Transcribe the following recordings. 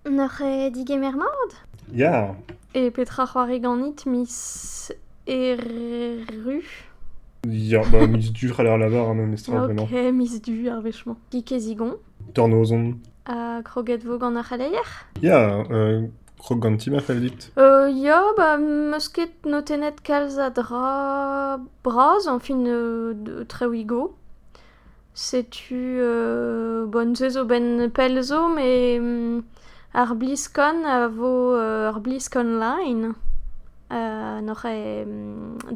N'oc'h ket digemer mat? Ya. E petra c'hoari ganit miz Erru? Ya, bah miz Du c'haller l'avoir hein, memestra vraiment. Ok, miz Du ar wech-mañ. Kig e zigon. Tornozon. Ha kroget 'vo gant ar c'heleier? Ya, euh, krog gant ti ma fell dit. Euh, ya, bah m'eus ket notennet kalz a dra bras, enfin euh, de- Trewigo. Setu bon-se zo 'benn pell zo met ar BlizzCon a vo ur BlizzCon line n'oc'h eo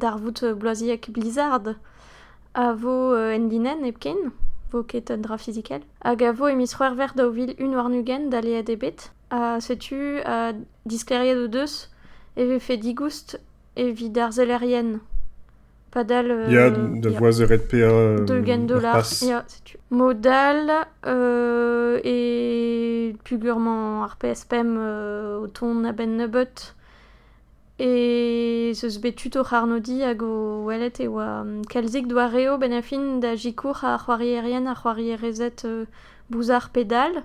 darvoud bloaziek Blizzard a vo en linenn hepken 'vo ket un dra fizikel hag a vo e miz C'hwevrer daou vil un warn-ugent daleet eo bet ha setu disklêriet o deus e vefe digoust evit ar sellerien. Padal... Ya, da voaz eured paeañ... D'ugent dollar, ya, setu. Mod all e pugur-mañ ar PSPM o tont a-benn nebeut ez eus bet tud o c'harnodiñ hag o welet e oa kalzik doareoù benn a fin da sikour ar c'hoarierien, ar c'hoarierezed bouzar pedal.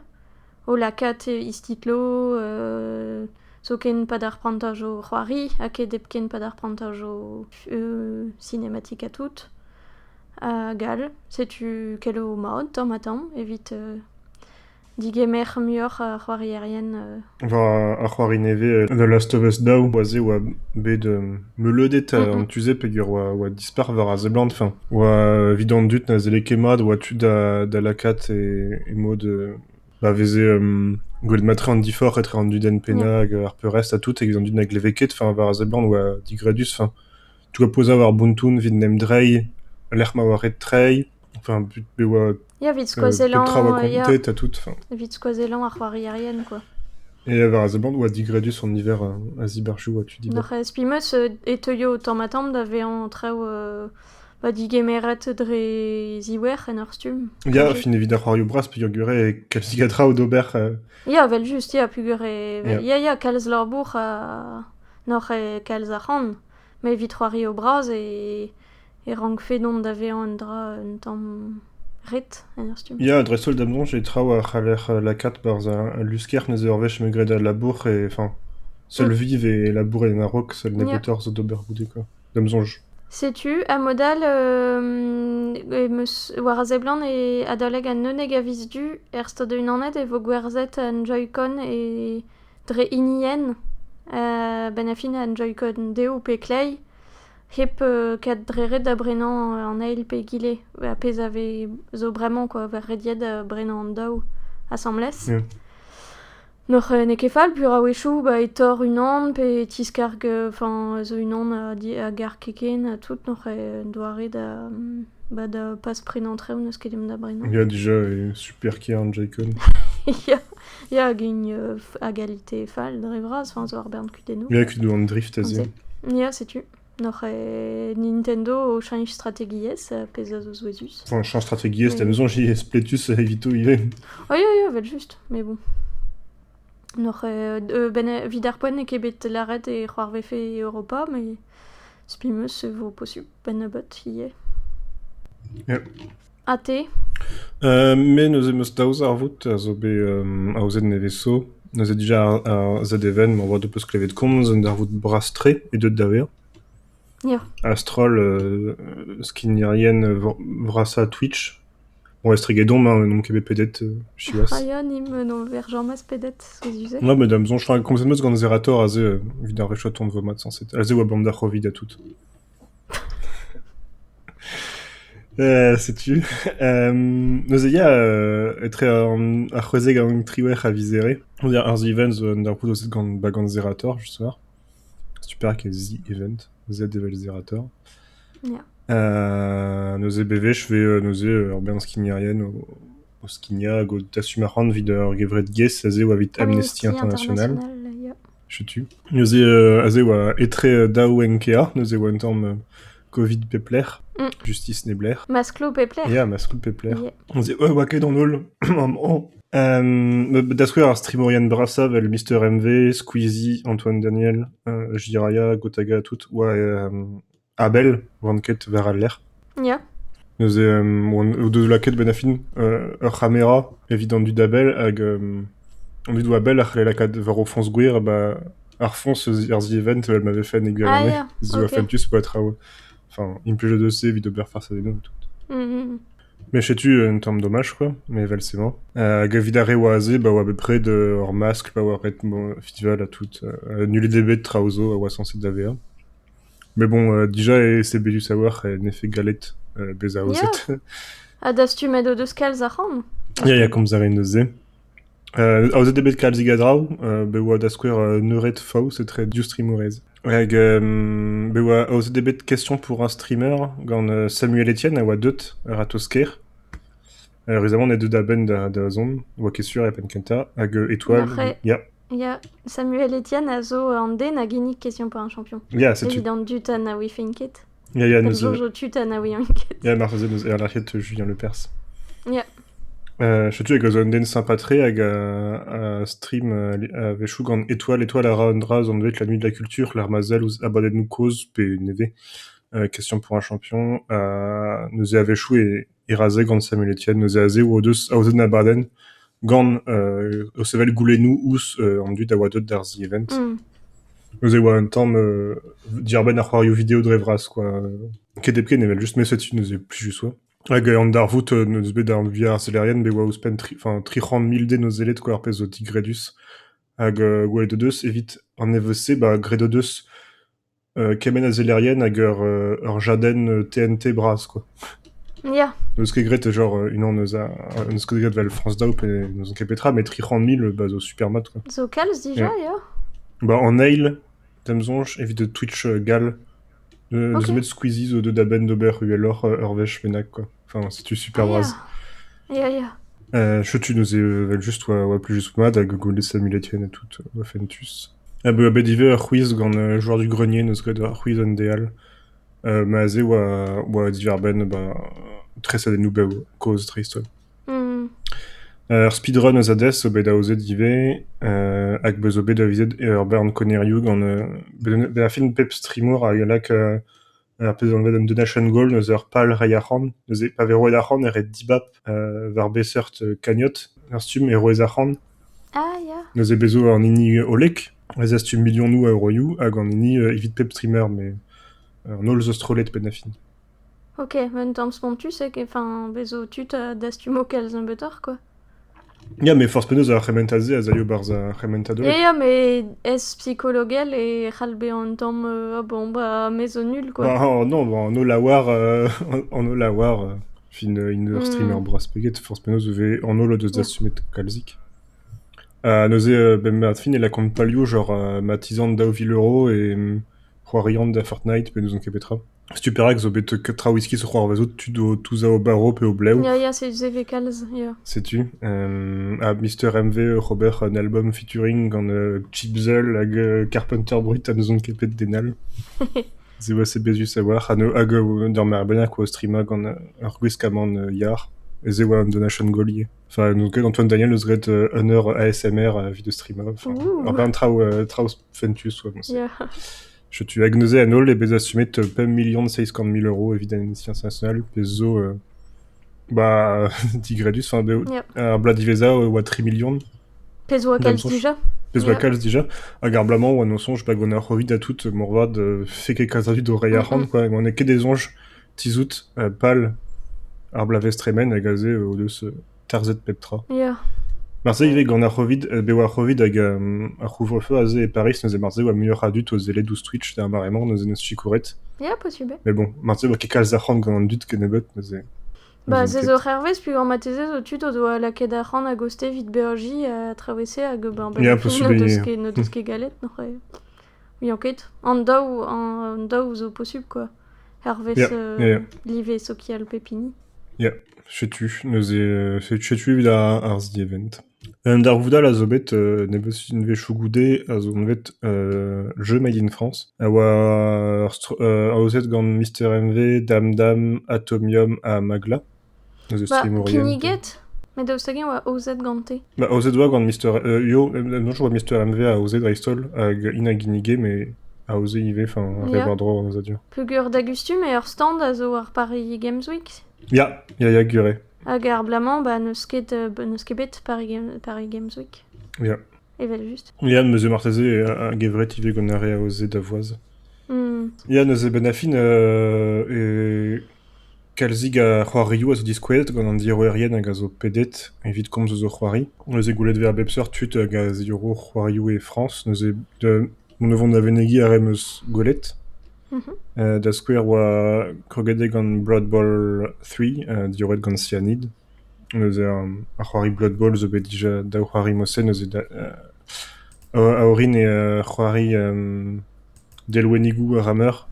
o lakaat istitlo zoken pa dalc'h prantañ zo c'hoari ha ket hepken pa dalc'h prantañ zo sinematik ha tout. Hag all. Setu kello mat tamm ha tamm evit digemer muioc'h ar c'hoarierien. War ar c'hoari nevez The Last of Us Daou, oa se oa bet meuleudet. Tu se peger oa Sperver a seblant, enfin, oa evit an dud na zelle ket mat oa tu da da lakaat e e mod euh, ma veze euh, gwelet matre an diforc'h etre an dud en penna hag ar peurrest ha tout evit an dud na gleve ket, enfin, war a seblant oa digredus, enfin, tout a poza war Buntoun evit 'n em drei lec'h ma oa ret trei, Enfin, but be oa Evit skoazellañ petra oa kontet ha tout. Enfin. Evit skoazellañ ar c'hoarierien, quoi. Et euh, war a seblant oa digredus an niver euh, a ziberjou ha tu diber. Nac'h ez pimeus euh, e teuio tamm-ha-tamm da vezañ traoù euh, ba digemeret dre ziwer en ur stumm. Ya, fin evit ar c'hoarioù bras peogwir eo kalzik a traoù d'ober. euh. Ya, vel just, ya, pugur e... Ya. Ya, ya, kalz labour ha... noc'h e kalz arc'hant. Mais evit c'hoari o bras e... e rankfe dont da vezañ un dra un tamm ret en ur stumm. Ya, dreist-holl da bloñs e traoù a c'haller lakaat barzh al lusker neuze ur wech m'emañ graet al labour e enfin seul viv e labourer en a-raok seul nebeutoc'h zo d'ober goude quoi da'm soñj. Setu a-mod-all em eus war a seblant e adalek an unnek a viz du er Stad Unanet e vo gwerzhet an Joy-Con e dre hinienn a-benn ar fin an Joy-Con dev pe kleiz hep ket dre-ret da brenañ an eil pe egile, ar pezh a vez zo bremañ kwa, vet rediet da brenañ an daou asambles. N'oc'h n'eo ket fall peur a-wechoù ba e torr unan pe e tiskarg enfin zo unan a garg ken ha tout n'oc'h doare da ba da pas prenañ traoù n'eus ket dimp da brenañ. Ya dija, super kêr an Joy-Con. Ya. Ya, hag une euh, à égalité fall dre vras, enfin, zo ar bern kudennoù. Ya, kudu an drift aze. Ya, setu. Noc'h e Nintendo o chañch strategiezh, euh, pezh a zo souezhus. Enfin, chañch strategiezh, t'as besoin j'y spletus evito ivez. Oh ya, ya, vel juste, mais bon. Noc'h e... euh, ben, euh, vid ar poent n'eo ket bet lâret e c'hoarvefe Europa, mais spi meus e vo posubl, ben nebeut ivez. Yeah. Ha te ? Me neuze 'm eus daou zarvoud a zo bet aozet nevez-zo. Neuze dija ar ZFN ma oa deus klevet komz un darvoud bras-tre eo deuet da vezañ. Ya. A-stroll skignerien vrasañ Twitch. Bon estreget omp, hein, n'omp ket bet pedet siwazh. Ah ya, nimp n'on ver james pedet, souezhus eo. Ya, met da 'm soñj, komzet 'm eus gant Zerator aze evit ar re chaton 'vo mat sañset. Aze 'oa 'bamm da c'hovid ha tout. setu neuze ya etre ar c'hwezeg hag an triwec'h a vizere on dire ar z-event zo un darvoud aozet gant ba gant Zerator just war super ke z-event z evel Zerator neuze bewech vez neuze ur bern skignerien o skignañ hag o dastum arc'hant evit ur gevred-gaezh a-zehoù evit Amnesty International Setu. Neuze euh, aze 'oa etre daou enkea, neuze 'oa un tamm euh, Covid pep lec'h, Mm. justice neb lec'h. Masklo pep lec'h. Ya, maskoù pep lec'h. Yeah. On se dit, ouais, 'oa ket an holl, maman. Euh, da skouer ar streamourien brasa vel Mr MV, Squeezie, Antoine Daniel, euh, Jiraya, Gotaga, tout, 'oa euh, A-bell 'oan ket war al lec'h. Ya. Neuze o deus lakaet benn ar fin ur c'hamera evit an dud a-bell hag an dud 'oa bell a c'halle lakaat war o foñs gwir ba ar foñs eus ar zivent evel ma vefe en e gwirionez. Ah ya, ok. Zo fentus po traoù, enfin implijet eus se evit ober farzh a-denhoù. Mais setu un tamm domaj quoi, mais evel-se 'mañ. Hag evit ar re 'oa aze ba 'oa bepred ur maskl pa oa ret festival ha tout. Nullet eo bet traoù zo a oa sañset da vezañ. Mais bon, déjà, c'est bédus a-walc'h en effet gallet bezañ aozet. Ya, ha dastumet o deus kalz ac'han? Ya, ya, komz a raen eus se. Euh, aozet eo bet kalzig a draoù, euh, bet oa da skouer euh, Neured Faos etre div streamerez. Hag euh, bet oa aozet eo bet question pour un streamer gant euh, Samuel Etienne a oa deut a-ratozh-kêr. Ur rezamant deuet a-benn da zont 'oa ket sur e penn-kentañ hag Étoile... ya. Ya, Samuel Etienne a zo an den a ginnig Question pour un champion. Ya, setu... Evit an dud ha na ouifent ket. Ya, ya, neus... Comme Jojo Tut ha na ouiont ket. Ya, marteze neus erlec'hiet Julien Lepers. Ya. Uh, setu hag zo un den sympa-tre hag a, a stream a-wechoù gant Étoile. Étoile a ra un dra zon la nuit de la culture, l'art mazel ouzh abadennoù kozh pe nevez. Uh, question pour un champion. Uh, neus e a-wechoù e e razhe gant Samuel Etienne neuze azev o deus aozaet abadenn gant euh, o sevel goulennoù ouzh an dud a oa deuet d'ar zievent. Mm. Neuze e oa un tamm euh, diarbenn ar c'hoarioù video dre vras quoi. Ket hepken evel juste mais setu neuze plus juste quoi. Hag euh, an darvoud euh, neus bet d'ar VR arzellerien be oa ouzhpenn tri, enfin, tri c'hant mil den o zellet quoi ar pezh zo tigredus. Hag euh, gwelet o deus evit an EVC ba gred o deus kement a zellerien hag ur ur jadenn TNT bras quoi. Ya. N'eus ket graet genre unan eus a n'eus ket graet 'vel France Daou pe n'ouzon ket petra met tri c'hant mil bah zo super mat quoi. Zo kalz dija ya. Bah en eil d'am soñj evit Twitch gall euh, Ok. n'eus met Squeezie zo deuet da benn d'ober uheloc'h ur wech bennak quoi. Enfin c'est tu super Ah, bras. Ya ya. Euh, je tu nous ai euh, vel juste ouais, ouais, plus juste mad à Google et Simulation et tout euh, Fentus. A-beu bet ivez ur c'hwiz gant joueur du grenier 'neus graet ar c'hwiz en DL. ma aze oa oa diwar-benn bah tresadennoù bev kozh dreist-holl. Ar speedrun eus Hades zo bet aozet ivez hag beus zo bet aviset ur bern konnerioù gant bezañ bet ar film pep streamour hag a lak ar pezh anvet an donation goal eus ur pal reiñ arc'hant. Neuze pa vez roet arc'hant e ret dibab war be seurt kagnot ar stumm e roez arc'hant. Ah ya. Neuze bez' zo an hini hollek a zastum milionoù a euroioù hag an hini evit pep streamer met an holl zo strollet penn ha fin. Ok, un tamm spontus, enfin, bez' zo tud a dastumo kalz nebeutoc'h quoi. Ya, met forzh penaos ar c'hementad-se a zalio barzh ar c'hementadurioù. Ya, met ez-psikologel e c'hall bezañ un tamm euh, bon, bah, maez au nul, quoi. Bah, oh, non, bah, en Ollaouar, euh, en Ollaouar, euh, une, une ur streamer Mm. bras peget, forzh penaos e vez an holl o deus Mm. dastumet kalzik. Ha neuze, euh, ben, ma fin, elle a compte palio genre euh, ma 10 ans daou vil euro et mm, c'hoarian da Fortnite, pe n'ouzon ket petra. Setu perak zo bet traoù iskis o c'hoarvezout tud o touzañ o barv pe o blev. Ya, ya, setu se vez kalz, ya. Setu. ha Mister MV oc'h ober un album featuring gant Chipzel hag Carpenter Brit ha n'ouzon ket bet den all. Se oa se bezus a-walc'h hag d'ur mare bennak oa o streamañ gant ur gwiskamant yar. E se oa un donation goal ivez. Enfin, n'on ket Antoine Daniel eus ret un eur ASMR evit o streamañ. Enfin, un traoù traoù fentus oa moa-se. Ya. Setu hag neuze an holl eo bet dastumet pemp milion seizh kant mil euro evit an Amnesty International, pezh zo euh, bah, digredus. Enfin, bev- Yeah. ar bloaz diwezhañ e oa tri milion, Pezh oa kalz D'annonçance. déjà. pezh oa Yeah. kalz déjà. Hag ar bloaz-mañ, oa nosoñj bah, gant ar Covid ha tout, moarvat, euh, fait quelque zazut o reiñ arc'hant, quoi. Ma n'eo ket des soñj tizout euh, pal ar bloavezh tremen hag aze, euh, o deus euh, Tarzhet pep tra. Ya. Marse ivez gant ar C'hovid, euh, bev ar C'hovid hag euh, ar couvre-feu aze e Paris, neuze marse e oa muioc'h a dud o sellet ouzh Twitch d'ar mare-mañ, neuze n'eus sikoret. Ya, possible. Mais bon, marse e oa ket kalz arc'hant gant an dud kennebeut, neuze... Bah, neuze c'est ket. zo hervez, puis marteze zo tud o doa lakaet ar c'han a goste evit BRJ à traversé hag ben, ben, Yeah, possible, ne deus yeah. ket, ne deus ket galet, n'oc'h Muiañ ket. An daou, an daou zo posubl quoi. Hervez Ya, euh, ya, live sokial pep hini. ya. Setu, neuze, euh, setu, setu evit ar, ar zievent. Un darvoudal a zo bet euh, nebeus unvezhioù goude a zo bet euh, jeu Made in France a oa ur str- euh, aozet gant Mr MV, Dam Dam, Atomium ha Magla. kinniget met daoust hag-eñ oa aozet gante Ba aozet 'oa gant Mister Yo no choaz 'oa Mister MV aozet dreist-holl hag int a ginnige me aoze ivez enfin re war-dro an aozadur peogwir dagustum eo ur stand a zo ar Paris Games Week ya ya ya gwir eo hag ar bloaz-mañ ba n'eus ket euh, n'eus ket bet Paris Game- Paris Games Week ya evel-just ya neuze marteze a-gevret ivez gant ar re aozet da voaz Hmm. ya neuze 'benn ar fin euh, e Kalzig a c'hoarioù a zo diskouezet gant an diorroerien hag a zo pedet evit komz eus o c'hoari. Neuze gwelet e vez a bep seurt tud hag a ziorro c'hoarioù e Frañs. Neuze mont da vont da venegiñ ar re 'm eus gwelet. Da skouer 'oa kroget eo gant Blood Bowl Three diorroet gant Cyanide. Neuze ar c'hoari Blood Bowl zo bet dija daou c'hoari mosenn neuze a orin eo c'hoari Delwennigoù a ra meur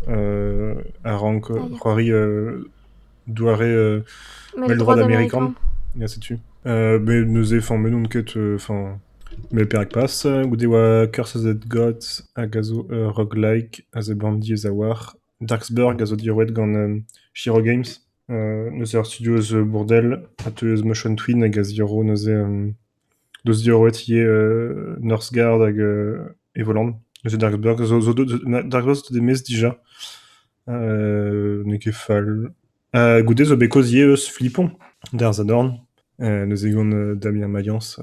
a rank c'hoari doare mell-droad amerikan. Ya setu. met neuze fañm n'on ket fañm met perak pas? Goude e oa Curses of the Gods hag a zo ur roguelike a zebrant diaes a-walc'h. Darksburg a zo diorroet gant Shiro Games, neuze ur studio eus Bourdel a teu eus Motion Twin hag a zirò neuze 'Deus diorroet ivez Norsgaard hag Evoland. Neuze Dark Bird zo zo Dark Bird zo deuet e-maez dija. n'eo ket fall. goude zo bet kaoz ivez eus Flipon d'ar Sadorn. neuze gant Damien Mayence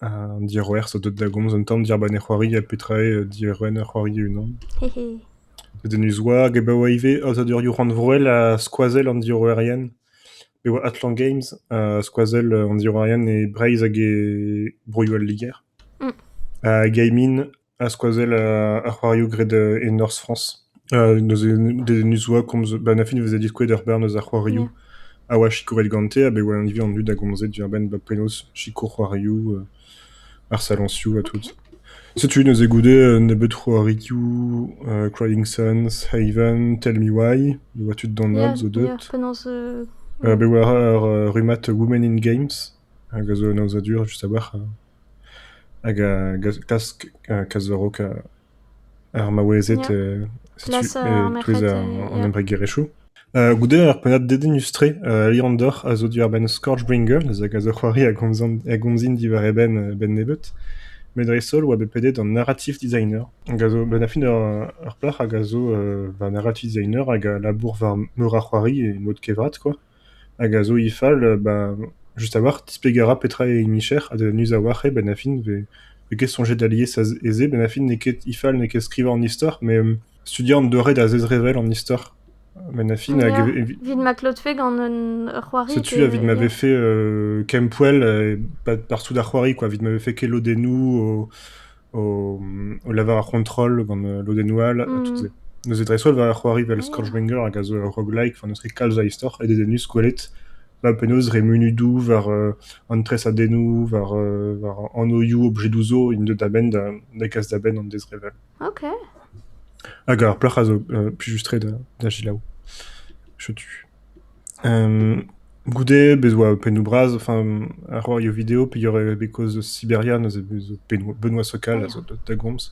an diorroer zo deuet da gomz un tamm diàr-benn e c'hoari ha petra eo diorren ur c'hoari e-unan. Dedenus war, gabaoù ivez aozadurioù rannvroel ha skoazell an diorroerien. Pe oa Atlan Games, skoazell an diorrourien e Breizh hag e broioù al Liger. Gaimin ha skoazell ar c'hoarioù graet e norzh Frañs. Neuze dedennus oa komz... Ba an fin e veze diskouezet ur bern eus ar c'hoarioù a oa sikouret gante, a-benn e oa an hini an dud a gomze diwar-benn ba penaos sikour c'hoarioù. Ar saloñsioù ha tout. Setu neuze goude un nebeud c'hoarioù, Crying Suns, Haven, Tell Me Why. E oa tud d'an holl zo deuet. Penaos euh, Bet war ar euh, rummad Women in Games, hag a zo un aozadur just a-walc'h. Hag a glask kas war-raok Ar maouezed, setu eus an embregerezhioù. Goude ur pennad dedennus-tre, Leander a zo diwar-benn Scourgebringer, hag a zo c'hoari a gomzin diwar e benn-nebeut. Met dreist-holl oa bet pedet an narrative designer, hag a zo benn-ar-fin ur plac'h hag a zo va narrative designer hag a labour war meur a c'hoari e mod kevrat, quoi. Hag a zo he fal ba just a-walc'h displegañ a ra petra eo he micher ha da neuz a-walc'h eo bennafi vez ket soñjet alies e-se. Bennafi n'eo ket he fal n'eo ket skrivañ an istor met studiañ an doare da zezrevell an istor bennafi hag evit... Evit ma klotfe gant un ur c'hoari pe... Setu evit ma vefe kempoell e partout d'ar c'hoari quoi, evit ma vefe ket lodennoù o... o lavar ar c'hontrol gant lodennoù all ha tout-se. Neuze dreist-holl war ar c'hoari vel Scourgebanger hag a zo ur roguelike va n'eus ket kalz a istor ha dedennus gwelet va penaos dre munudoù war an tresadennoù, war war anoioù objedoù zo int deuet a-benn da gas da benn an dezrevell. Ok. Hag ar plac'h a zo plijus-tre da da selaou. Setu. Goude bez 'oa pennoù-bras, enfin a c'hoario video peogwir because eus Siberia neuze bez 'zo pennoù- benoît-socal a zo deuet da gomz.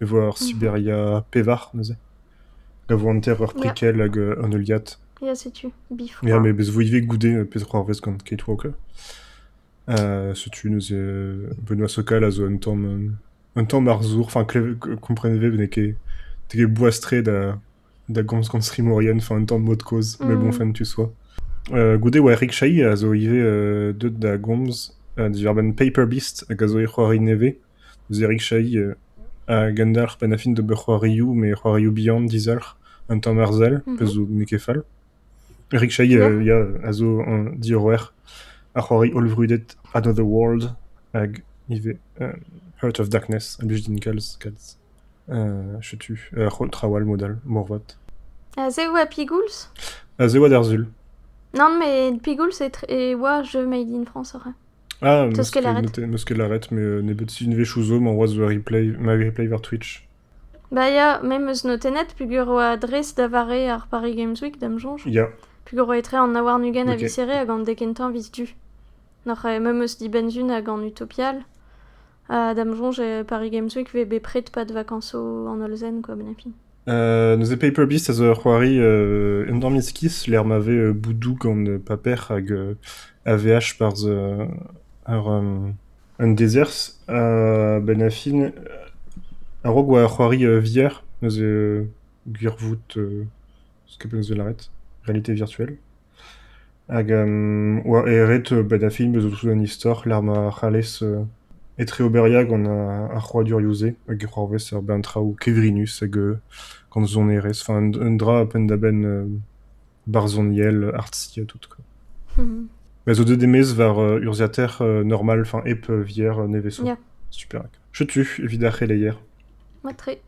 Me 'vo ur Siberia pevar neuze, da vont hanter ur prikell hag un heuliad. Ya setu, bifroid. Ya me bez 'vo ivez goude peseurt c'hoarvez gant Cakewalk. setu neuze benoît-socal a zo un tamm un tamm arzour, enfin klevet- kompren vez n'eo ket boas-tre da da gomz gant strimourien, enfin un tamm mod-kozh, mais bon, fin tu sois. Euh, goude oa Eric Chahi a zo ivez euh, deuet da gomz uh, diwar-benn Paper Beast hag a zo e c'hoari nevez. Eus Eric Chahi uh, a gendalc'h penn-ha-fin d'ober c'hoarioù, mais c'hoarioù bihan, dizalc'h, un tamm arzel, mm -hmm. pezh zo n'eo ket fall. Eric Chahi yeah. uh, yeah, a zo un diorroer a c'hoari hollvrudet Another World hag ivez uh, Heart of Darkness a blij din kalz, kalz. Setu trawalc'h mod-all, moarvat. Ha se oa pigouls ? Se oa d'ar sul. Nann, met pigouls e oa jeu made in France aze. Ah, meus ket lâret, met nebeut sizhunvezhioù zo emañ c'hoazh ma replay war Twitch. Bah ya, me 'meus notennet peger oa dres da vare ar Paris Games Week, da'm soñj. Ya. Peger oa etre an aouarn-ugent a visere hag an dek kentañ vis du. Noc'h me 'meus dibenn-sun hag an utopial. Ha da'm soñj e Paris Games Week 'vez bepred pas de vacances en Holzen quoi Benefi. Euh, neuze Paperbeast a zo ur c'hoari euh, endorm iskis lec'h ma vez euh, boudou gant euh, paper hag euh, AVH barzh euh, ar, euh, un desers. Uh, ben a fin, euh, a-raok oa ur c'hoari euh, VR, neuze euh, gwirvoud, euh, skeup neuze lâret, réalité virtuelle. Hag oa eret bed ar film zo an istor lec'h ma c'hallez etreoberia gant ar c'hoadurioù-se hag e c'hoarvez ur bern traoù kevrinus hag gant sonerezh, enfin un dra penn-da-benn barzhoniel, artsiñ ha tout quoi. Me zo deuet e-maez war urzhiataer normal, enfin hep vier nevez zo. Super. Setu evit ar c'heleier. Mat-tre.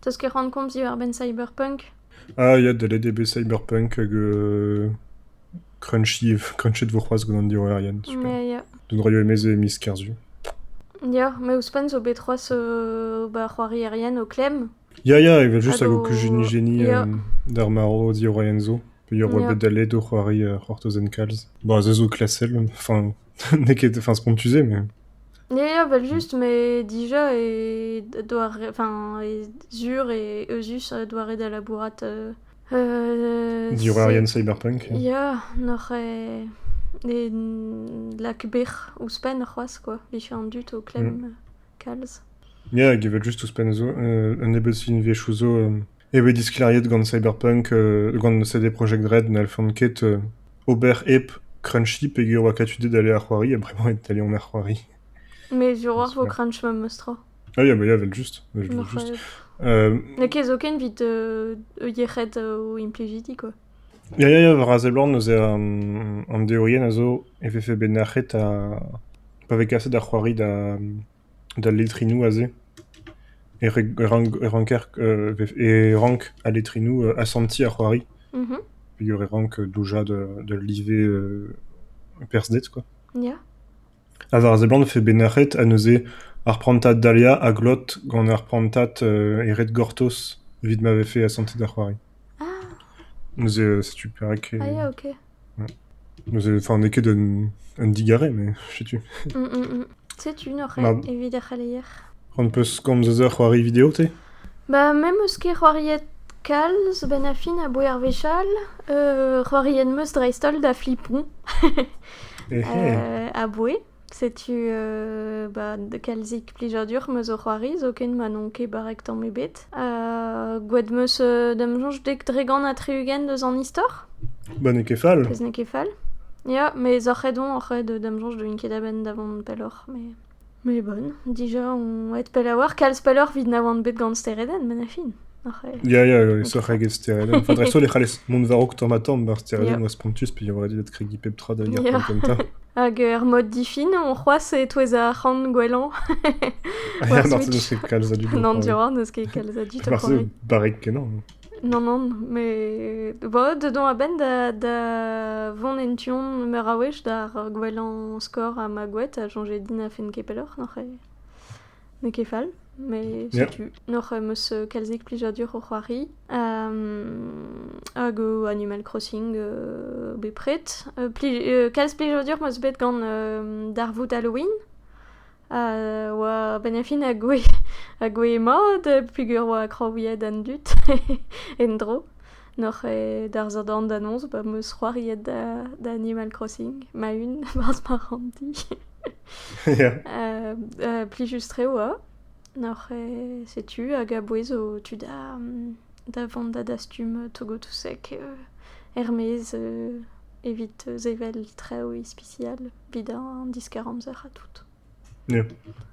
Teus ket c'hoant komz diwar-benn Cyberpunk? Ah ya, deuet eo bet Cyberpunk hag euh, Crunchy, Crunchy't vo c'hoazh gant an diorrerien, super. Ya, ya. Dont raio e-maez e miz Kerzu. Ya, mais ouzhpenn zo bet c'hoazh euh, ba c'hoarierien o klemm. Ya ya, evel juste hag o kuzunig geni Ya. euh, d'ar marv diorrerien zo. Peogwir oa bet daleet o c'hoari c'hortozen kalz. Bon, se zo klasel, enfin n'eo ket enfin spontus-se mais... Ya ya, evel-just, mais dija e doare... enfin e sur e euzhus doare da labourat euh... euh... Diorrerien cyberpunk. Ya, n'oc'h e... e lak bec'h ouzhpenn c'hoazh quoi, vije an dud o klemm kalz. Ya, hag evel-just ouzhpenn zo, un nebeud film viechou zo e vez disklêriet gant Cyberpunk, gant CD Projekt Red n'hellfont ket ober hep Crunchy peger oa katudet dale ar c'hoari, ha bremañ eo dale on ar c'hoari. Mais sur war vo crunch memes tra. Ah ya, bah ya, vel just, je voulais juste. Euh... N'eo ket zoken evit euh, yec'hed o implijidi, quoi. Ya, ya, ya, war a seblant, neuze an, an deorien a zo e vefe bet nac'het ha pa vez kaset ar c'hoari da, d'al letrinoù aze e rank al letrinoù asentiñ ar c'hoari peogwir e rank doujañ d'ul live perzhded quoi. Ha war a seblant e vefe bet nac'het ha neuze ar prantad Dahlia a glot gant ar prantad e red gortoz evit ma vefe asantet ar c'hoari. Neuze setu perak e... Neuze, enfin, n'eo ket un digarez, mais setu. Setu un oc'h evit ar c'heleier. C'hoant 'peus komz eus ur c'hoari video, te? Ba, me 'meus ket c'hoariet kalz, benn ar fin aboe ar wechall. C'hoariet 'meus dreist-holl da flipon. Aboe. Setu ba kalzik plijadur 'm eus o c'hoari zoken ma n'on ket barrek tamm ebet. Gwet 'm eus da 'm soñj dek dregont ha tri-ugent eus an istor. Ba n'eo ket fall. Pezh n'eo ket fall. Ya, mes oc'h aet on, oc'h aet da 'm soñj d'oun ket a-benn da vont pelloc'h, mais mais bonne. Dija on aet pell a-walc'h, kalz pelloc'h 'vit na oan bet gant steredenn, met na fin. Ya, ya, isoc'h eget steredenn. Enfin, dreist-holl e c'hallez mont war-raok tamm-ha-tamm ar steredennoù a spontus peogwir eo kregiñ pep tra da gêr kentañ. Hag er mod difin, on c'hoazh e-touez ar c'han gwellañ. Ya, marse n'eus ket kalz a dud o N'an diorroa n'eus ket kalz a dud o Marse c'hoari. barrek-kenañ. Non, non, mais bon, dedans a-benn da, da vont en tu-hont meur a wech d'ar gwellañ skor ha ma goued, ha soñjet din a fent ket pelloc'h, n'oc'h N'eo ket fall, mais setu. N'oc'h em eus euh, kalzik plijadur o c'hoari. Um, hag o Animal Crossing euh, bepred. Euh, pli- euh, kalz plijadur 'm eus bet gant euh, darvoud Halloween. A oa benn ar fin a goe, a goe mat, pugur oa kraouiet an dud en-dro. N'oc'h eo darzh an danoz ba 'm eus c'hoariet da, da Animal Crossing ma-un, barzh ma ranndi. Ya. Euh, euh, plijus-tre oa. Noc'h e setu hag a-bouez o tu da, da vont da dastum Togotouseg euh, er-maez euh, evit sevel traoù ispisial evit an diskar-amzer ha tout. Ya.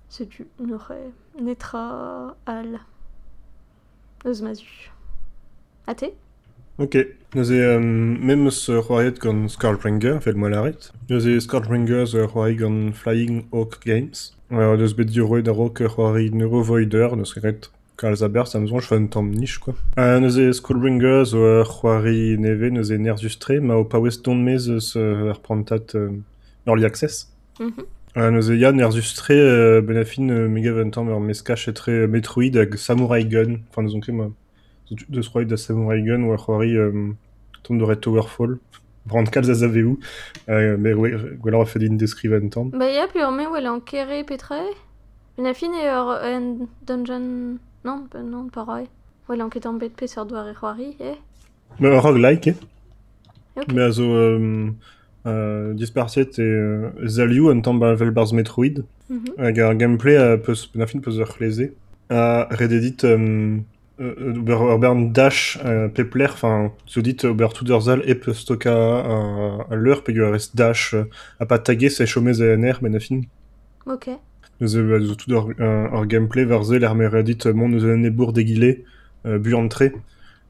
Setu, noc'h e netra all. eus ma zu. Ha te? Ok, neuze euh, me 'm eus c'hoariet gant Scourbringer, evel ma lârit. Neuze Scourbringer zo ur c'hoari gant Flying Hawk Games. Euh, o deus bet diorroet a-raok ur c'hoari Neurovoider, n'eus ket ret kalz a berzh, ha ma soñj e vo un tamm nij quoi. Euh, neuze Scourbringer zo ur c'hoari nevez, neuze nerzhus-tre, ma ho paouez dont-mez eus euh, ar prantad euh, Early Access. Ha neuze ya, nerzhus-tre benn ar fin me gav un tamm ur meskaj etre Metroid hag Samurai Gun. Enfin n'ouzon ket ma... deus roet da Samurai Gun war c'hoari Tomb Raider Towerfall. Bran kalz a zaveoù. Met gwelloc'h e fell din deskrivañ un tamm. Bah ya, peoc'h-me 'welan kere petra eo. Benn ar fin eo ur un dungeon... non, non, pas rai. 'welan ket tamm 'bet peseurt doare c'hoari eo. Ma roguelike me a zo dispartiet e zalioù un tamm 'ba evel 'barzh Metroid hag ar gameplay a peus penn-ar-fin 'peus ur c'hleze ha ret eo dit ober ur bern dach pep lec'h enfin zo dit ober tout ur sal hep stokañ al leur peogwir e rez dach ha pa tagaez e chomez en aer benn-ar-fin. Ok. Neuze a zo tout ur gameplay war se lec'h m'eo ret dit mont eus un enebour d'egile buan-tre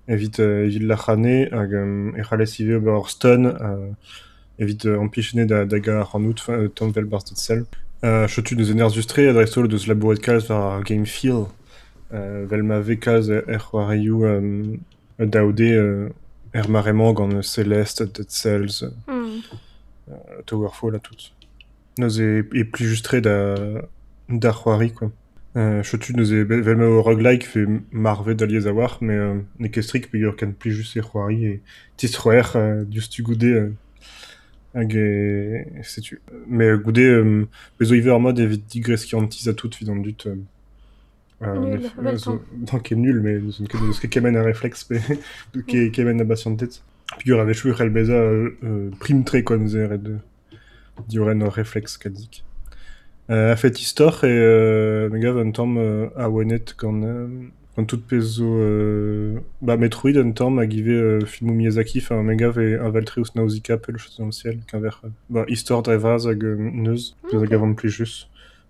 Evit evit lac'hane hag e c'hallez ivez ober ur steun evit impichenet da gaout ac'hanout tamm 'vel barzhed sell. Setu neuze nerzhus-tre ha dreist-holl deus labourat kalz war ar game field vel ma vez kalz er c'hoarioù daou-d er mare-mañ gant Celeste, Dead Cells, Towerfall ha tout. Neuze e plijus-tre da c'hoari kwa. Setu neuze, vel m'eo roguelike e vez marvet alies a-walc'h, met n'eo ket strik peger ken plijus eo c'hoari e tistroer diouzhtu goude hag setu. Met goude bez' zo ivez ur mod evit digreskiñ an tizh ha tout evit an dud. N'eo ket nul, met n'eus ket kement a refleks pe kement a basianted. Peger a-wechoù e c'hell bezañ prim-tre, quoi, neuze ret. Diorren ur refleks kadig. A-fet istor e me gav un tamm awenet gant gant tout pezh zo ba Metroid un tamm hag ivez filmoù Miyazaki. Enfin me gav e aval-tre ouzh Nausicaa pell-chosomsiel keñver ba istor dre vras hag neuz. Pezh a gavan plijus.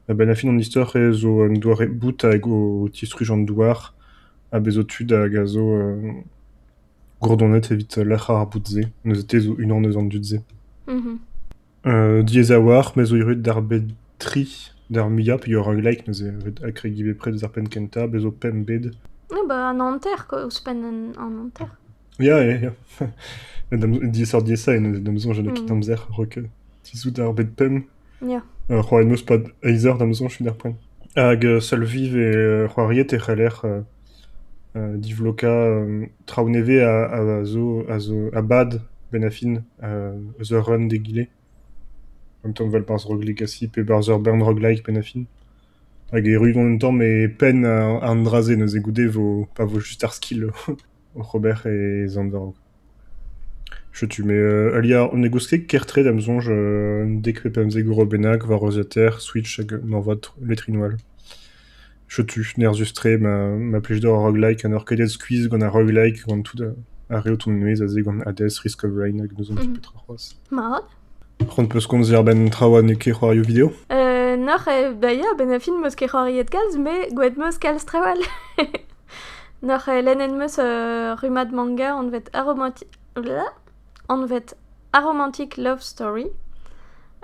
A-benn ar fin an istor zo un doare bout hag o tistruj an douar. Ha bez' zo tud hag a zo gourdonet evit lec'h ar boud-se, neuze te zo unan eus an dud-se. Diaes a-walc'h, me zo erruet d'ar bed tri, d'ar muiañ peogwir roguelike neuze, evit akregiñ bepred eus ar penn kentañ, bez' zo pemp bed. Ya ba an hanter quoi, ouzhpenn an an hanter. Ya, ya, ya. Diaesoc'h-diaesañ eo neuze, da 'm soñj n'eo ket amzer, rock, tizhout ar bed pemp. C'hoant 'm eus pad eizh eur da'm soñj d'ar poent. Hag seul viv e c'hoariet e c'heller divlokañ traoù nevez a zo a zo a bad benn ar fin eus ur run d'egile. Un tamm vel barzh Rock Legacy pe barzh ur bern rock-like benn ar fin. Hag erru on un tamm e penn an dra-se neuze goude 'vo pa vo just ar skill. oc'h ober e zandorg. Setu me heuliañ ne gouez ket ker-tre da'm soñj un dek pe pemzek euro bennak war reuziataer Switch hag moarvat letrinoù all. Setu nerzhus-tre ma plij deoc'h ar roguelike ha n'oc'h ket aet skuizh gant ar roguelike gant tout ar re o tont e-maez aze gant Hades, Risk of Rain hag n'ouzon ket petra c'hoazh. Mat. C'hoant 'peus komzer a-benn traoù ha n'eo ket c'hoarioù video? Noc'h eo da ya a-benn ar fin m'eus ket c'hoariet kalz, met gwelet 'meus kalz traoù all. Noc'h eo lennet 'meus ur rummad manga anvet Aromanti- anvet Aromantic Love Story.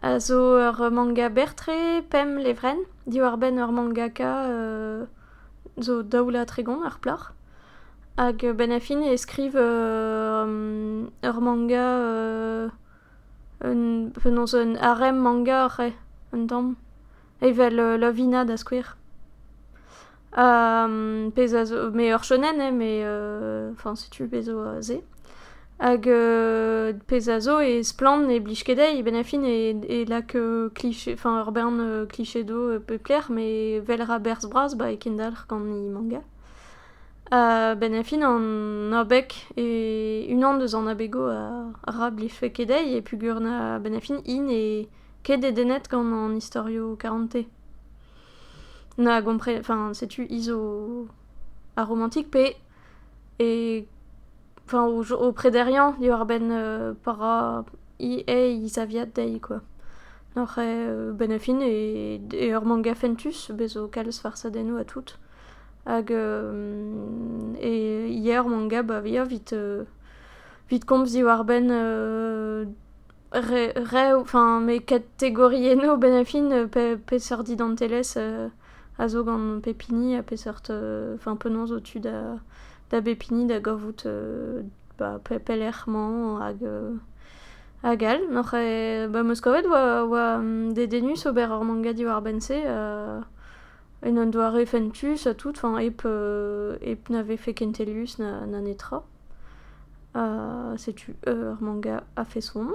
A zo ur manga berr-tre, pemp levrenn, diwar-benn ur mangaka zo daoulad tregont ar plac'h. Hag 'benn ar fin e skriv ur manga penaos un harem manga c'hwec'h un tamm evel Lovina da skouer pezh a zo met ur shonen eo met enfin setu pezh zo se hag pezh a zo e splann ne blij ket dezhi benn ar fin e lak kliché enfin ur bern kliché do pep lec'h met 'vel ra berzh bras ba e kendalc'h gant he manga A-benn ar fin an abeg eo unan eus an abegoù ra blijfe ket dezhi e peogwir a-benn ar fin hi n'eo ket dedennet gant an istorioù karante. Na gompre- enfin setu hi zo ar romantig pe e enfin o jo- o prederiañ diwar-benn pa ra hi he zaviad dezhi kwa. Oc'h a-benn ar fin e ur manga fentus bez' zo kalz farsadennoù ha tout. Hag e yer mon gab a via 'vit komz diwar-benn rev enfin me kategorienno benefin peseurt identelezh a zo gant pep hini ha peseurt enfin penaos zo tu da bep hini da gavout ba pelec'h-mañ hag all. N'oc'h ba 'm eus kavet 'oa dedennus ober ur manga diwar-benn se. En un doare fentus ha tout, enfin hep, hep na vefe kentelius na, na netra. setu eur manga a-feson.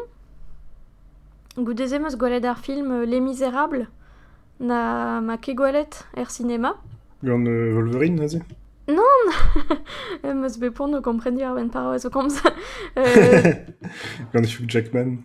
Goude-se 'm eus gwelet ar film Les Misérables. Na ma ket gwelet er sinema. Gant Wolverine aze? Non! em eus bet poan o kompren diwar-benn paroaz o komz. Gant Hugh Jackman.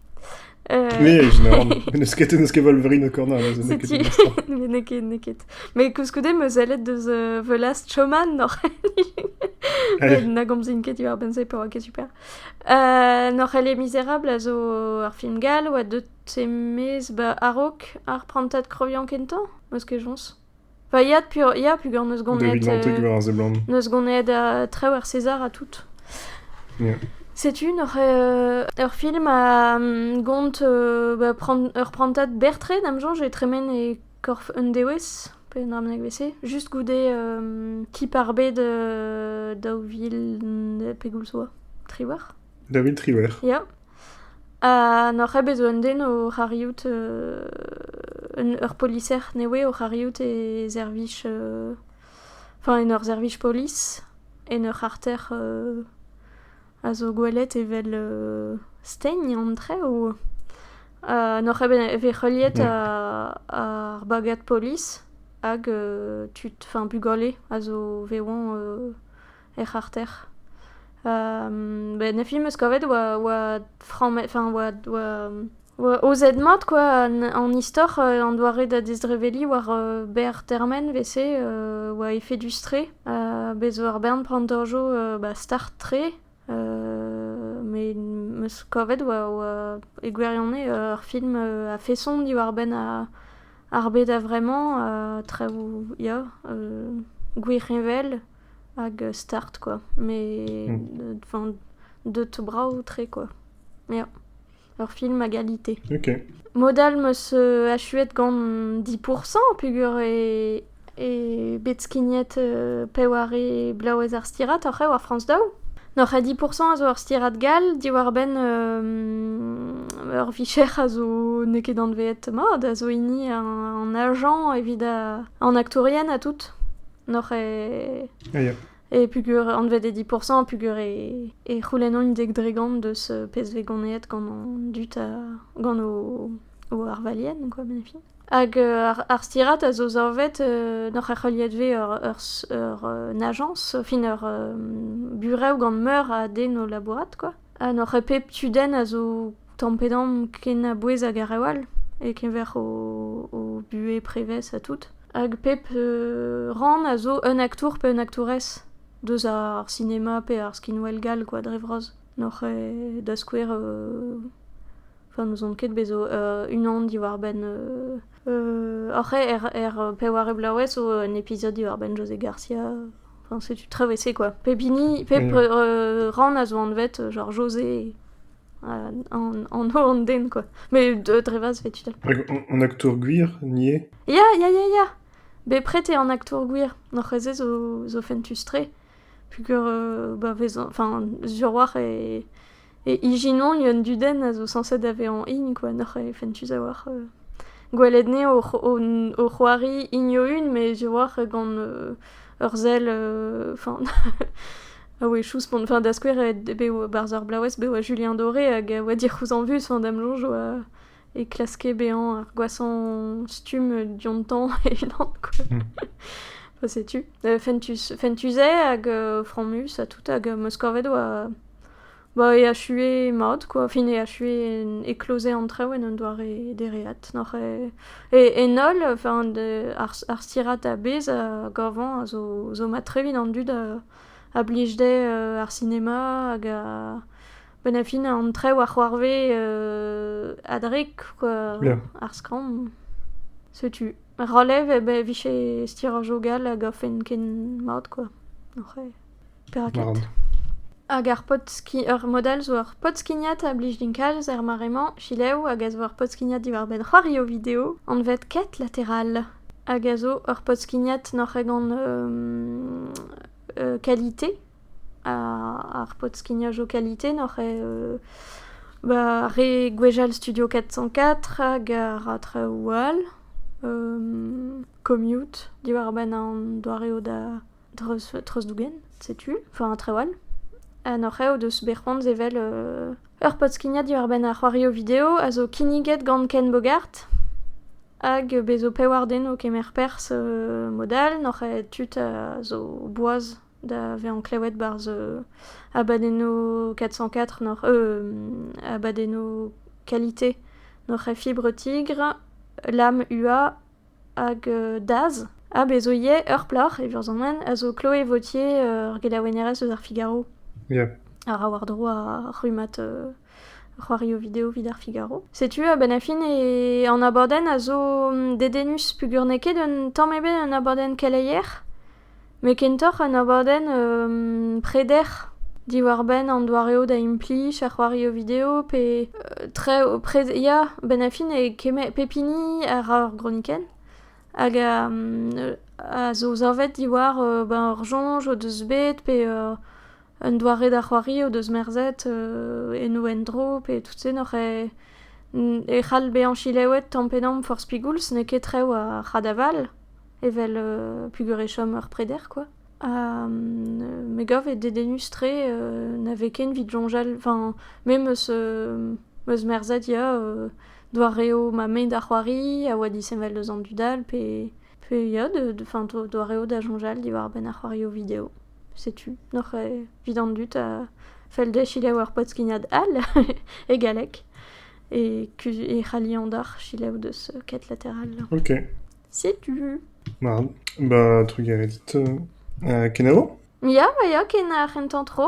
Puej, na oan. N'eus ket, n'eus ket Wolverine o kornañ, neuze n'eo ket Zeti. mestr. n'eo ket, n'eo ket. Mais koulskoude, ma sellet deus euh, The Last Showman, Norc'hell, Ouais. na gomzin ket diwar-benn-se pa oa ket super. Euh, Norc'hell et Misérable a zo ur film gall oa deut semez ba a-raok ar prantad kreviañ kentañ, ma 'z ket joñs? Va yad peoc'h, ya, peogwir neus gonet... David Mantic war a seblant. Neus gonet traoù ar César ha tout. Yeah. Setu n'oc'h ur film a gont ba ur prantad Bertret am soñj e tremen e korf un dewezh, pe un abeg evel-se, just goude Kip ar Bed daou vil pegwir zo. Triwec'h. David Triwec'h. Ya. Ha n'oc'h ket bet zo un den oc'h arriout ur poliser nevez oc'h arriout e servij enfin en ur servij polis en ur c'harter a zo gwelet evel stegn an traoù ha n'oc'h ket bet heuliet ar bagad polis hag tud enfin bugale a zo vevañ er c'harter. Nefi 'm eus kavet oa frammet, enfin oa aozet mat quoi an istor, an doare da dezreveliñ war berr termen 'vese oa efedus-tre. Bez 'zo ur bern plantajoù start-tre met 'm eus kavet oa e gwirionez ur film a-feson diwar-benn ar bed a-vremañ, traoù ya gwirheñvel. hag start quoi, mais enfin deut brav-tre quoi, ya, ur film à qualité. Ok. Mod all 'meus achuet gant 10% peogwir e e bet skignet peware blaouez ar stirad oc'h eo ar France Daou. N'oc'h a 10% a zo ur stirad gall diwar-benn ur vicher a zo n'eo ket anveet mat, a zo hini an agent evit an aktourien ha tout. Noc'h e... E pugur anvet e 10%, pugur e, e c'houlennomp dek dregont deus pezh vez ganeet gant an dud ha gant o, o arvalien, quoi, benefit. Hag euh, ar, ar stirad a zo savet euh, noc'h er c'heuliet vez ur, ur, ur euh, ajañs, fin ur euh, burev gant meur a den o labourat, quoi. Ha n'oc'h ket pep tudenn a zo tamm-pe-damm kenabouez hag a rev all e-keñver o buhez prevez ha tout. Hag pep rann a zo un aktour pe un aktourez deus ar sinema pe ar skinwel gall kwa dre vras. N'oc'h ket da skouer n'ouzon ket bet zo unan diwar-benn Oc'h eo er peware bloavezh zo un episodio diwar-benn José Garcia. Enfin, setu traoù ese quoi. Pep hini, pep rann a zo anvet genre José an holl an den quoi. Mais dre vaz fait tu Hag an aktour gwir, nie? Ya, ya, ya, ya. Bepred eo an aktour gwir. Noc'h eze zo fentus-tre. Pugur, bah, vezan, enfin, sur war e... E ijinañ un dudenn a zo sañset da vezañ hini kwa neuze fentus a-walc'h gwelet anezho o c'hoari hini o-unan met a-walc'h gant ur sell enfin a-wechoù spont enfin da skouer bev barzh ar blaouez bev a Julien Doré hag a oa dic'houzañvus da'm soñj oa e klaske bezañ ar gwashañ stumm diontañ e-unan quoi. Bah setu. Fentus, fentus-eo hag fromus ha tout hag Moskorved oa... Bah e achue mat quoi, fin e achue éclosé an traoù en un doare dereat. N'oc'h e... En holl, enfin ar stirad a-bezh a gavan a zo mat tre evit an dud a blij dezhe ar sinema hag a... Benn a fin, an trev a c'hoarve adrek Ya. ar skramm. Setu, ralev e be vije stiraj-o gall hag afen ken mat, quoi. Oc'h e- perak Mar ket? an. Hag ar podski- ur mod all zo ur podskignad a blij din kalz er mare-mañ, selaou hag a zo ur podskignad diwar-benn c'hoari o video, anvet Quête latérale, hag a zo ur podskignad nac'h e gant euh, euh, qualité, Ar pod-skignajoù kalite n'oc'h eo ba re gwechall Studio 404 hag a traoù all, commute diwar-benn an doareoù da treuzdougen, setu, enfin traoù all. Ha n'oc'h eo deus bet c'hoant sevel ur pod-skignad diwar-benn ar c'hoarioù video a zo kinniget gant Ken Bogart hag bez' zo pevar den o kemer perzh mod all, n'oc'h eo tud a zo boaz. da vezañ klevet 'barzh abadennoù 404 n'oc'h abadennoù qualité n'oc'h e fibre tigre L'âme ua hag Daz ha bez' zo ivez ur plac'h e vurzamant a zo Chloé Vautier ur gelaouennerez eus ar Figaro Yeah. a ra war-dro ar rummad euh, c'hoarioù video evit ar Figaro. Setu a-benn ar fin e an abadenn a zo mm, dedennus pugur n'eo ket un tamm ebet un abadenn keleier met kentoc'h un abadenn preder diwar-benn an doareoù da implij er c'hoarioù video pe tre ya benn ar fin e kemer pep hini a ra ur gronikenn hag a zo savet diwar ur soñj o deus bet pe un doare da c'hoari o deus merzet en o endro pe tout-se n'oc'h e c'hall bezañ selaouet tamm pe damm forzh pegoulz n'eo ket rev ar c'hadaval. evel euh, pugur e chom ur preder, quoi. Ha euh, me gav eo dedennus-tre euh, na vez ken evit soñjal, enfin, me meus euh, meus merzhet ya euh, doareoù ma mein da c'hoari a oa disheñvel deus an dudal pe pe ya de- de- enfin, do- doareoù da soñjal diwar-benn ar c'hoarioù video. Setu noc'h eo evit an dud a fell dezhe selaou ur podskignad all e galleg e, kuz- e c'halli an dac'h selaou deus ket lateral. Ok. Setu. Ma, ba trugarez dit. kenavo? Ya, ma ya, ken ar c'hentañ tro.